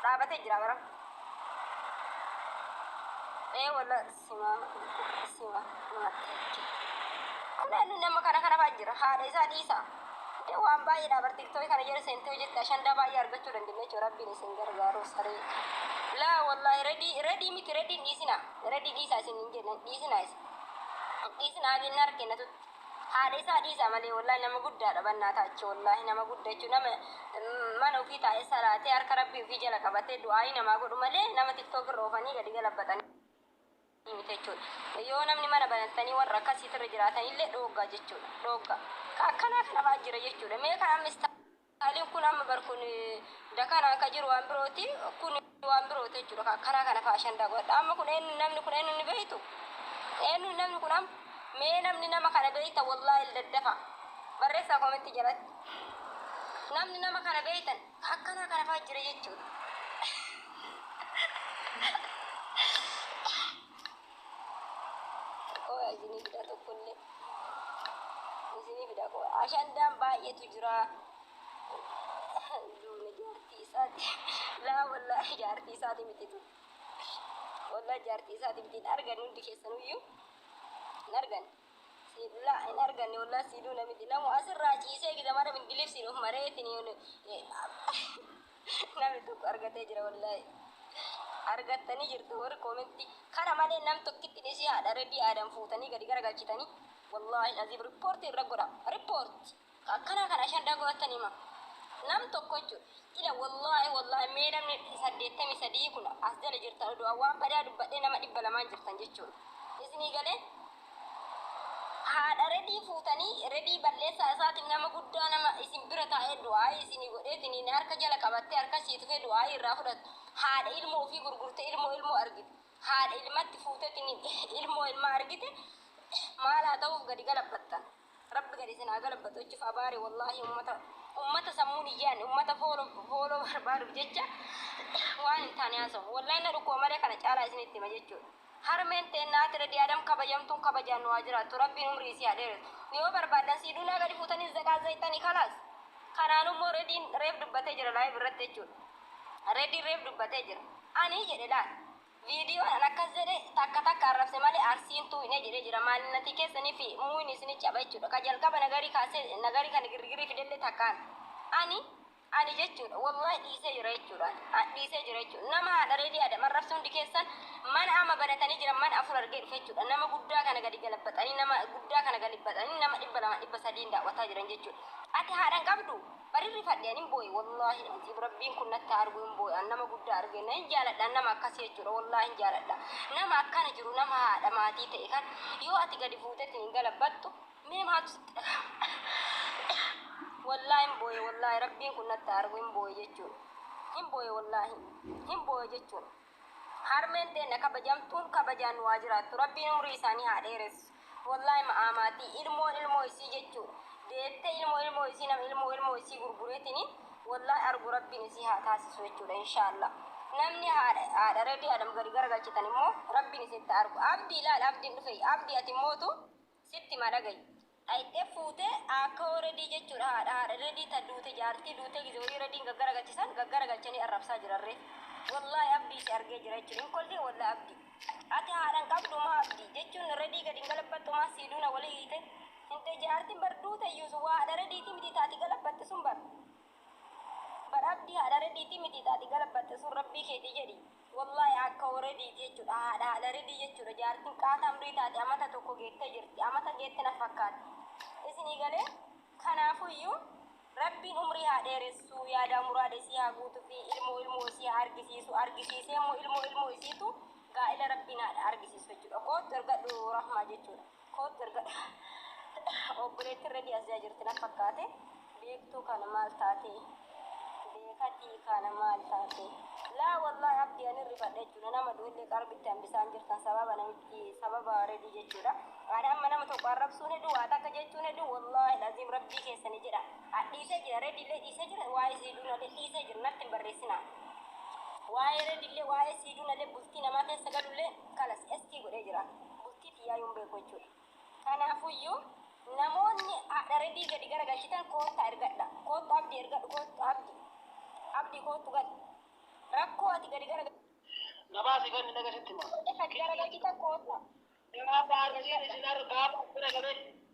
Dhaabatee jira bara. Ee walla sima sima mattee. Kunaan nama kana kana baa jira haadha isaa dhiisa. Dee waan baay'ee dhaabar tiktookii kana jala seentee hojjette ashandaa baay'ee argachuu dandeenya jechuudha rabbiin isin gargaaru saree. Laa wallaahi redii redii miti rediin dhiisina. Redi dhiisaa isin hin jenna hin dhiisinaa isin. Hin dhiisinaa abin harke na tutti. Haadha isaa dhiisaa malee wallahi nama guddaadha bannaa taachi wallahi nama gudda jechuun nama mm, mana ofii taa'ee salaatee harka rabbii ofii jala qabatee du'aayii namaa godhu malee nama tiktook irra oofanii gadi galabbaxanii miti jechuudha. Yoo namni mana banattanii warra akkasiitirra jiraatanillee dhooggaa jechuudha. Dhooggaa. Ka akkanaa kana fa'aa jira jechuudha. Mee kan amma Yaaliin kun amma bar kun da kanaan ka jiru waan birooti kun waan birooti jechuudha ka karaa kana faa ashandaa godhadha amma kun eenyu namni kun eenyu ni beektu eenyu namni kun amma mee namni nama kana beekta wallaahi il daddafa barreessaa koomentii jalatti namni nama kana beektan ka akkanaa kana faa jira jechuudha. Qoya isinii fida tokkollee. Isinii fida qoya. Ashandaan baay'eetu jira. Duubni jaartii isaati. Laa wallaahi jaartii isaati miti tu. Wallaahi jaartii isaati miti hin argan hundi keessanuyyuu. Hin argan. Siidhu laa hin arganne wallaahi siiduu namiti. Namu asirraa ciisee gida mara bindilibsiin of maree isin Nami tokko argatee jira wallaahi. Argattanii jirtu warri koomentii. Kana malee nam tokkitti dhisii haadha Redii Aadam fuutanii gadi garagalchitanii. Wallaahi aziim rippoortii irra godha. Rippoorti. Akkanaa kan ashan dhagootan hima. Nam tokko jechuudha. Ila wallaahi wallaahi mee namni saddeettamii sadii kun as jala jirtan oduu waan badaa dubbadhee nama dhibba lamaan jirtan jechuudha. Isinii galee Haadha Redii fuutanii Redii balleessaa isaatiin nama guddaa nama isin bira taa'ee du'aa'ii isinii godheetiniin harka jala qabattee harka sii tufee du'aa'ii irraa fudhattu haadha ilmoo ofii gurgurte ilmoo ilmoo argite haadha ilmatti fuutetiniin ilmoo ilmaa argite maal haa ta'uuf gadi galabbattan. Rabbi gad isin haa galabbatu ejjuf abaari wallahi ummata ummata sammuun hin yaanne ummata foolo foolo barbaaduuf jecha waan hin taane haasawu wallahi na dhukkuba malee kana caalaa isinitti hima jechuudha harmeen teenna haati redi adam kabajamtuun kabajaan nu haa jiraattu rabbiin umrii isii haa dheeressu yoo barbaaddan sii duunaa gadi fuutanii zaqaa zayxanii kalaas kanaanu immoo rediin reef dubbatee jira laayiv irratti jechuudha rediin reef dubbatee jira ani jedhe laal Video dhan akkas jedhe takka takka arrabse male arsiin tuu hin jedhe jira maalinatii keessanii fi muin isini caba jechudha ka jalqaba nagari kaase nagari kan girgiri fidelle takkaan ani ani jechudha wallahi dhiise jira jechudha an dhiise jira jechu nama haadha reedii adam arrabse hundi keessan mana ama banatanii jira mana afur argee dhufe jechudha nama guddaa kana gadi galabaxanii nama guddaa kana galibaxanii nama dhibba lama dhibba sadiin daawwataa jiran jechudha ati haadhan qabdu Barii rifadhe anin boye wallahi azim rabbiin kun natti argu hin boye an nama gudda arge na hin jaaladha nama akkasi jechuudha wallahi hin jaaladha nama akkana jiru nama haadha maatii ta'e kan yoo ati gadi fuutetti hin galabattu mee maaltu sitti dhagahama wallahi hin boye wallahi rabbiin kun natti argu hin boye jechuudha hin boye wallahi hin boye jechuudha Harmeen teenna kabajamtuun kabajaan nu haa jiraattu rabbiin umrii isaanii haa dheeressu wollahi ma'aa maatii ilmoon ilmoo isii jechuu deettee ilmoo ilmoo isii nama ilmoo ilmoo isii gurgureetini wollahi argu rabbiin isii haa taasisu jechuudha inshaalla namni haadha haadha redii adam gadi garagalchitan immoo rabbiin isinitti haa argu abdi ilaali abdiin dhufeeyy abdi ati mootu Sitti ma dhagayu. Dhayxee fuute aakkawoo redii jechuudha haadha haadha redii ta duute jaartii duute gize wayii rediin gaggaragalchisan gaggaragalchanii arrabsaa jiran ree wollahi abdii si argee jira jechuudha hin kolfii wollahi abdii ati haadha hin qabdu maa abdii jechuun redii gadi hin galabbattu maa sii duuna wali hiite hinde jaartiin bar duute iyyuu sun waadha rediitii mitii taati galabbatte sun bar Bar abdii haadha rediitii mitii ta ati galabbatte sun rabbii keetii jedhi wallahi akkao rediiti jechudha haadha haadha redii jechudha jaartin qaa tamrii taate amata tokko geette jirti amata geette na fakkaatti isinii galee kanaafuyyu rabbiin umrii haa dheeressuu yaadaa muraada isii haa guutufii ilmoo ilmoo isii haa argisiisu argisiisee immoo ilmoo ilmoo isiitu gaa'ila rabbiin haadha argisiisu jechudha koottu ergadhu rahmaa jechudha. Koottu ergadha. Obboleettiin Redii Aziyaa jirti na fakkaate. Beektuu kana maal taate? Beekatii kana maal taate? Laa wallahi abdi ani rifadhe jechuudha. Nama du'ellee qarbitti hambisaan jirtan sababa namitti sababa Redii jechuudha. Ani amma nama tokko arrabsuun hedduu waa takka jechuun hedduu wallahi laziim rabbii keessani jedha. Adhiisee jira Rediillee dhiisee jira waa'ee siiduunallee dhiisee jira natti hin barreessinaa. Waa'ee Rediillee waa'ee siiduunallee bultii namaa keessa galullee kanas ST godhee jira. Bultii tiyyaayuu hin beeku jechuudha. Kanaafuyyuu namoonni haadha Redii gadi garagalchitan koottaa ergadha. Koottu Abdi ergadhu koottu Abdi. Abdi koottu gadi. Rakkoo ati gadi gara Gabaasi kan hin dhagasitti hima. gadi garagalchitan koottaa. Gabaasa arsiin isin argaaf bira galee.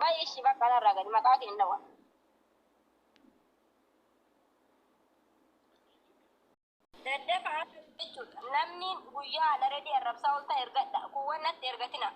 Bayi ishi bakka narraa gadi maqaa kee hin dhawa. Daddafa akka jechuudha. Namni guyyaa ana redii arrabsaa olta ergadha. Kuuwwan natti ergatina.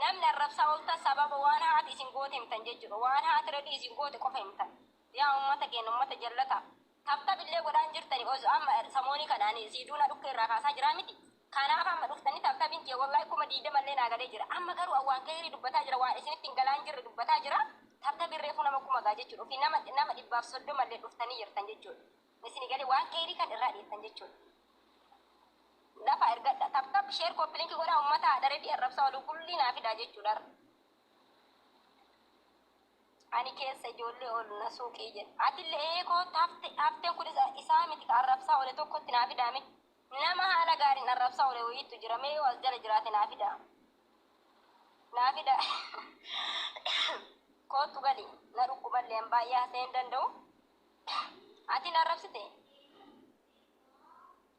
Namni arrabsaa olta sababa waan haati isin goote himtan jechuudha. Waan haati redii isin goote qofa himtan. Yaa ummata keenya ummata jallata. Taptap illee godhaan jirtani ozo amma samooni kana ani sii duuna dhukke irraa kaasaa jiraa miti kaanaaf amma dhuftani taptabin kiyya wallahi kuma digdama illee naa galee jira amma garuu an waan keeyrii dubbataa jira waan isinitti hin galaan jirre dubbataa jira taptabin reefuu nama kuma gaa jechuudha ofii nama nama dhibbaaf soddoma illee dhuftani jirtan jechuudha isini galee waan keeyrii kan irraa dhiiftan jechuudha lafa ergadha taptap sheer koppilinki godhaa ummataa adara fi arrabsaa oluu kullii naa fidaa jechuudha Ani keessa ijoollee ol na suuqii jedhe. Atille ee kootta hafte, hafteen kun isa, isaa miti ka arrabsaa ole tokko itti naa fidaa mee. Nama haala gaariin arrabsaa ole woyiittu jira mee yoo as jala jiraate naa fidaa. Naa fidaa. Koottu gali. Na dhukkuballee an baay'ee hasa'ee hin danda'u. Ati na arrabsite?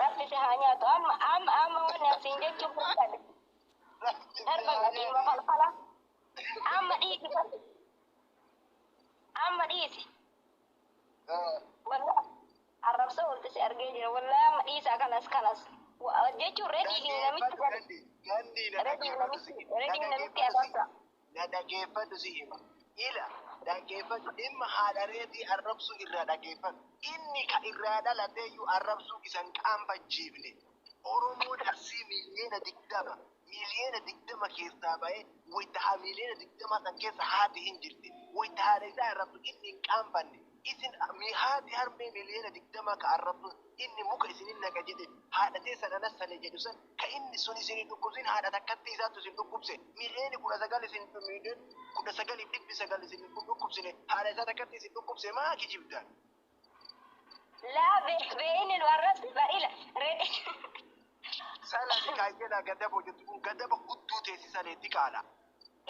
Rabbi si haa nyaatu. Amma amma amma wanni an siin jechuuf barbaade. Darba dhiiruma falfala. Amma dhiisi bari. Amma dhiisi. Wallah arrabsa olti si argee jira. Wallah amma dhiisaa kanas kanas. Wa- Jechuun rediin namitti gadi. Rediin namitti rediin namitti arrabsa. na dhageeffadhu si hima. Ila, dhageeffadhu, dhimma haadha reetii arrabsuu irraa dhageeffadhu. Inni ka irraa dhalatee iyyuu arrabsuu isa hin qaanfachiifne. Oromoon Arsii miiliyoona digdama, miiliyoona digdama keessaa ba'ee wayta ha miiliyoona digdamaa san keessa haati hin jirti. Wayta haadha isaa arrabsu inni hin qaanfanne. Isin mi haati harmee miliyoona digdamaa ka arrabsoon, Inni muka isin hin naqa jedhe, haadha teessan anas sale jedhu san, ka inni sun isin hin dhukkubsin haadha takkattii isaattu isin dhukkubse, miliyooni kudha sagal isin miliyooni kudha sagaliif dhibbi sagal isin hin dhukkubsine, haadha isaa takkatti isin dhukkubse maa kijibdan? Laa be be inni nu arrabse ba ila redi. Sala diqaa jedha gadabo jettu kun gadaba gudduu teessi salee diqaala.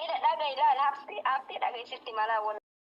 Ila dhagayi laal habsi habsi dhagayi sitti malaa walahi.